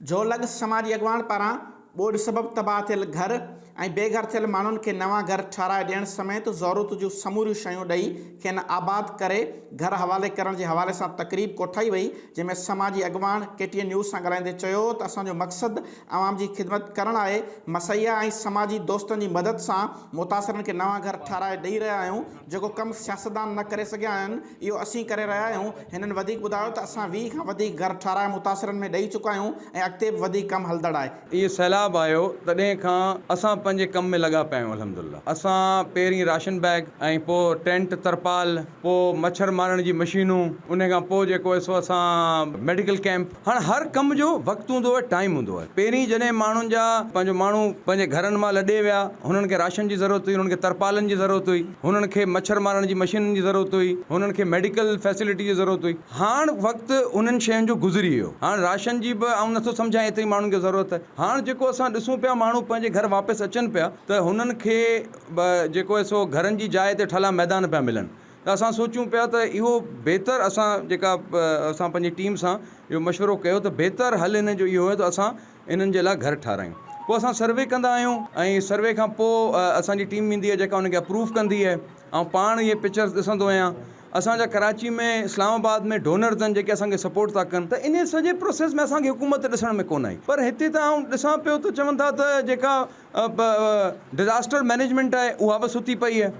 جو لڳس سماجي اڳواڻ پاران ٻوڏ سبب تباهه ٿيل گهر ۽ بي گهر ٿيل ماڻهن کي نوان گهر ٺهرائي ڏيڻ سميت ضرورت جون سموريون شيون ڏئي کين آباد ڪري گهر حوالي ڪرڻ جي حوالي سان تقريب ڪوٺائي وئي جنهن ۾ سماجي اڳواڻ ڪي ٽي اين نيوز سان ڳالهائيندي چيو ته اسان جو مقصد عوام جي خدمت ڪرڻ آهي مسيا ۽ سماجي دوستن جي مدد سان متاثرن کي نوان گهر ٺهرائي ڏئي رهيا آهيون جيڪو ڪم سياستدان نه ڪري سگهيا آهن. اهو اسين ڪري رهيا آهيون. هنن وڌيڪ ٻڌايو ته اسان ويهه کان وڌيڪ گهر ٺهرائي متاثرن ۾ ڏئي چڪا آهيون ۽ اڳتي به وڌيڪ ڪم هلندڙ آهي. اهو سيلاب آيو تڏهن کان اسان پنهنجي ڪم ۾ لڳا پيا آهيون الحمدالله اسان پهرين راشن بيگ ۽ پوء ٽينٽ ترپال پوء مڇر مارڻ جي مشينون انهي کان پوء جيڪو سو اسان ميڊيڪل ڪيمپ هاڻ هر ڪم جو وقت هوندو آهي ٽائيم هوندو آهي پهرين جڏهن ماڻهن جا پنهنجو ماڻهو پنهنجي گهرن مان لڏي ويا هنن کي راشن جي ضرورت هئي هنن کي ترپالن جي ضرورت هئي هنن کي مڇر مارڻ جي مشينن جي ضرورت هئي هنن کي ميڊيڪل فيسلٽي جي ضرورت هئي هاڻ وقت انهن شين جو گذري ويو هاڻ راشن جي به آئون نٿو سمجهان ايتري ماڻهن کي ضرورت آهي هاڻ جيڪو اسان ڏسون پيا ماڻهو پنهنجي گهر واپس اچن پيا ته هنن کي جيڪو آهي سو گهرن جي جاء تي ٺلا ميدان پيا ملن ته اسان سوچيون پيا ته اهو بهتر اسان جيڪا اسان پنهنجي ٽيم سان اهو مشورو ڪيو ته بهتر حل هن جو اهو آهي ته اسان انهن جي لاء گهر ٺارايون پوء اسان سروي ڪندا آهيون ۽ سروي کان پوء اسان جي ٽيم ويندي آهي جيڪا ان کي اپروو ڪندي آهي آئون پاڻ اهي پڪچرز ڏسندو آهيان اسان جا ڪراچي ۾ اسلام آباد ۾ ڊونرز آهن جيڪي اسان کي سپورٽ ٿا ڪن ته انهي سڄي پروسيس ۾ اسان کي حڪومت ڏسڻ ۾ ڪونه آئي پر هتي ته آئون ڏسان پيو ته چون ٿا ته جيڪا ڊزاسٽر مئنيجمينٽ آهي اها به ستي پئي آهي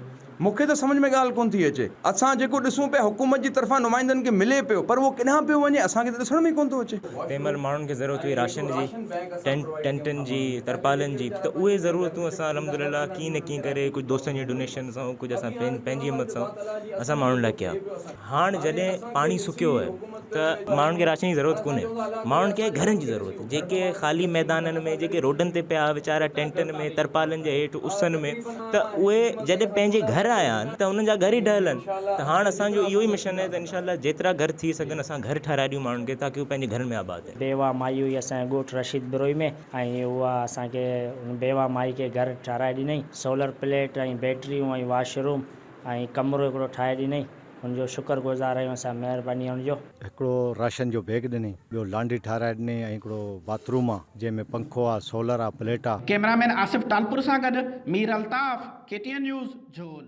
مون کي ته سمجهه ۾ ڳالهه ڪونه ٿي اچي اسان جيڪو ڏسون پيا حڪومت جي طرفان نمائندن کي ملي پيو پر اهو ڪيڏانهن پيو وڃي اسان کي ته ڏسڻ ۾ ئي ڪونه ٿو اچي. تنهن مهل ماڻهن کي ضرورت هئي راشن جي ٽينٽن جي ترپالن جي ته اهي ضرورتون اسان الحمدلله ڪيئن نه ڪيئن ڪري ڪجهه دوستن جي ڊونيشن سان ڪجهه اسان پنهنجي همت سان اسان ماڻهن لاء ڪيا هاڻ جڏهن پاڻي سڪيو آهي ته ماڻهن کي راشن جي ضرورت ڪونهي ماڻهن کي گهرن جي ضرورت آهي جيڪي خالي ميدانن ۾ جيڪي روڊن تي پيا ويچارا ٽينٽن ۾ ترپالن جي هيٺ اسن ۾ ته اهي جڏهن پنهنجي گهر آيا آهن ته انهن جا گهر ئي ڊهل آهن ته هاڻ اسان جو اهو ئي مشن آهي ته انشاء الله جيترا گهر ٿي سگهن اسان گهر ٺهرائي ڏيون ماڻهن کي تاڪي هو پنهنجي گهرن ۾ آباد رهن. بيواه مائي هئي اسان جي ڳوٺ رشيد بروهي ۾ ۽ اها اسان کي بيواه مائي کي گهر ٺهرائي ڏنائين سولر پليٽ ۽ بيٽريون ۽ واش روم ۽ ڪمرو هڪڙو ٺاهي ڏنائين. هن جو شڪر گذار آهيون اسان مهرباني هن جو. هڪڙو راشن جو بيگ ڏنائين. ٻيو لانڊري ٺهرائي ڏنائين ۽ هڪڙو باٿ روم آ جنهن ۾ پنکو آ، سولر آ، پليٽ آ. ڪيمرا مين آصف ٽالپر سان گڏ Mir Altaf, K T N news, جھول.